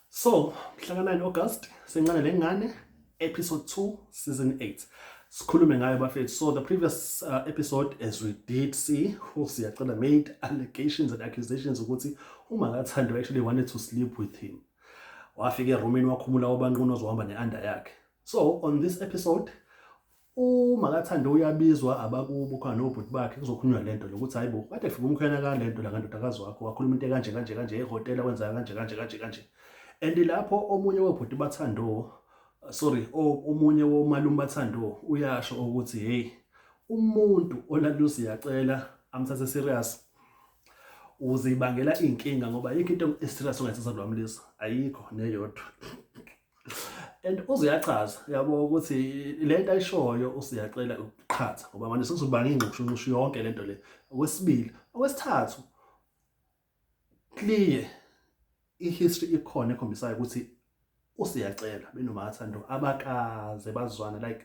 so mhlaka 9 august sencane le ngane episode 2 season 8 sikhulume ngayo bafethu so the previous uh, episode as we did see who siyacela made allegations and accusations ukuthi uma kathandwa actually wanted to sleep with him wafika erumini wakhumula obanqunu ozohamba ne-under yakhe so on this episode umakathande uyabizwa abakubo khona nobhuti bakhe kuzokhulunywa le nto lokuthi hayi bo kade fika umkhwena ka le nto la ngandodakazi wakho wakhuluma into kanje kanje kanje ehhotela kwenzeka kanje kanje kanje kanje and lapho omunye wobhuti bathando sorry omunye womalume bathando uyasho ukuthi hey umuntu olalusi yacela amthathe serious uzibangela inkinga ngoba yikho into eserious ongayisenza lwamlisa ayikho neyodwa and uziyachaza yabo ukuthi le nto ayishoyo usiyacela ukuqhatha ngoba manje sekuzobanga ingxushunxushu yonke le nto le okwesibili okwesithathu clear i-history ikhona ekhombisayo ukuthi usiyacela benomathando abakaze bazwana like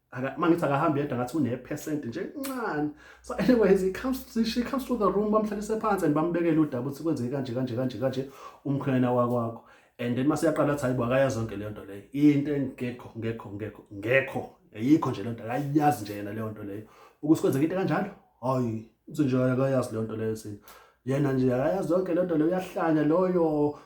uma ngithi akahambi yedwa ngathi unephesenti nje ncane so anyways he comes she comes to the room bamhlalise phansi and bambekele udaba ukuthi kwenzeke kanje kanje kanje kanje umkhwena wakwakho and then mase yaqala athi hayibo akayazi zonke leyo nto leyo into engekho ngekho ngekho ngekho ayikho nje lento akayazi nje yena leyo nto leyo ukuthi kwenzeka into kanjalo hayi uthi nje akayazi leyo nto leyo sini yena nje akayazi yonke lento leyo uyahlanya loyo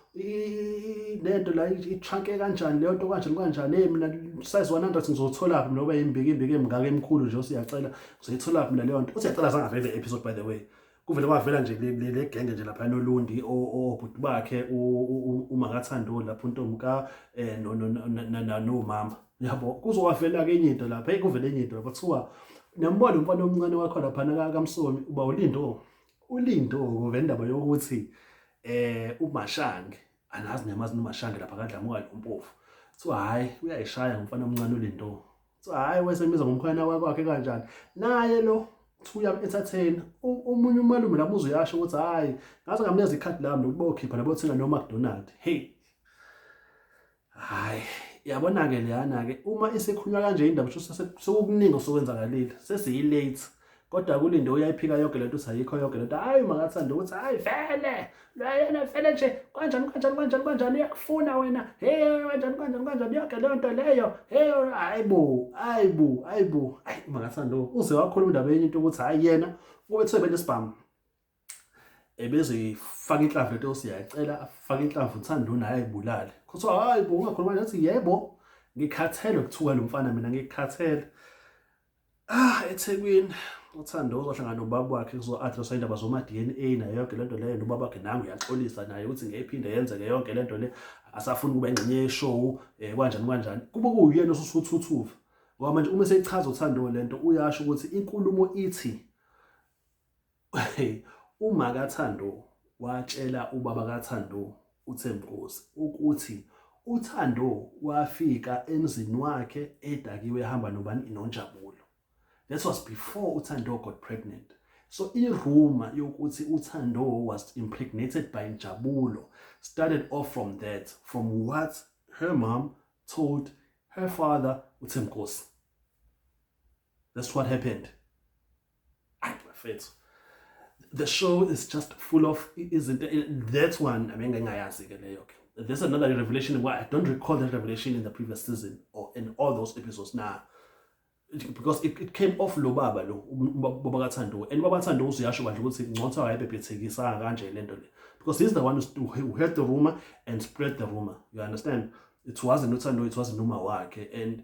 lento la itranke kanjani leyo nto kanjani kanjani hey mina size 100 ngizotholaphi mina ube imbiki imbiki emngaka emkhulu nje usiyacela ngizoyitholaphi mina leyo nto usiyacela sangavele le episode by the way kuvele kwavela nje le genge nje lapha nolundi obhuti bakhe umakathandoni lapho untomka eh, nomama yabo kuzowavela ke enye into lapha kuvele enye into lapha kuthiwa nambona umfana omncane wakho laphana kamsomi uba ulindo ulindo kuvela indaba yokuthi eh umashange anazi nemazi nomashange lapha kadlamuka lo mpofu kuthiwa hhayi uyayishaya ngomfana omncane ulindo kuthiwa hhayi wesemiza ngomkhwana wakwakhe kanjani naye lo thuya ethatheni omunye umalume lapho uzuyasho ukuthi hhayi ngaze ngamnikeza ikhadi lami lokuba okhipha labo thenga no-mcdonald hey hayi yabona-ke leyana-ke uma isekhulunywa kanje indaba sho sekukuningi osokwenzakalile sesiyi-late kodwa kulinde uyayiphika yonke lento uthi ayikho yonke lento hayi makathanda ukuthi hayi vele lwayena vele nje kanjani kanjani kanjani kanjani uyakufuna wena heyo kanjani kanjani kanjani yonke leyo nto leyo heyo hayi bo hayi bo hayi bo hayi makathanda uze wakhuluma indaba yenye into ukuthi hayi yena ubethiwe bentu isibhamu ebezoyifaka inhlamvu lento siyacela afake inhlamvu uThando naye ayibulale kuthiwa hayi bo ungakhuluma nathi yebo ngikhathele ukuthuka lo mfana mina ngikhathele ah eThekwini uthando uzohlangana nobaba wakhe kuzo-addresswa indaba zoma-dna nayo yonke le nto leyo nobaba wakhe nangu uyaxolisa naye ukuthi ngeyiphinde yenzeke yonke le nto le asafuni ukuba ingxenye yeshowu um eh, kwanjani kwanjani kube kuwuyena osusuthuthuva ngoba manje uma sechaza uthando le nto uyasho ukuthi inkulumo ithi Uma kaThando watshela ubaba kaThando uThembinkosi ukuthi uThando wafika emzini wakhe edakiwe ehamba nobani noNjabulo. That was before uThando got pregnant. So iruma yokuthi uThando was impregnated by Njabulo started off from that from what her mom told her father uThembinkosi. That's what happened. ayi bafethu the show is just full of izinto that's one abengingayazi ke leyo ke there's another revelation why I don't recall that revelation in the previous season or in all those episodes now. Because it, it came off lo baba lo baba kaThando and baba Thando usuyasho kanje ukuthi ngcotha wayebhebhethekisa kanje lento le because he's the one who heard the rumor and spread the rumor you understand it wasn't uThando it wasn't noma wakhe and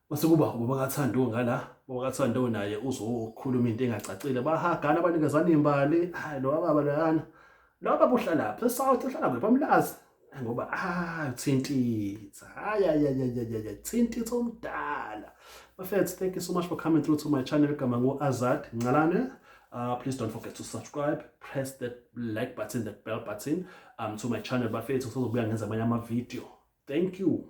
Mase kuba ubaba kaThando ngala, ubaba kaThando naye uzokhuluma into engacacile. Bahagana abanikezana imbali. Hayi lo baba lana. Lo baba uhlala phi? South uhlala kuphi amlazi? Ngoba ah uthintitha. Hayi hayi hayi hayi thintitha omdala. Bafethu thank you so much for coming through to my channel gama ngo Azad Ngalane. Uh, please don't forget to subscribe, press that like button, that bell button um, to my channel. Bafethu sizobuya ngenza amanye ama video. Thank you.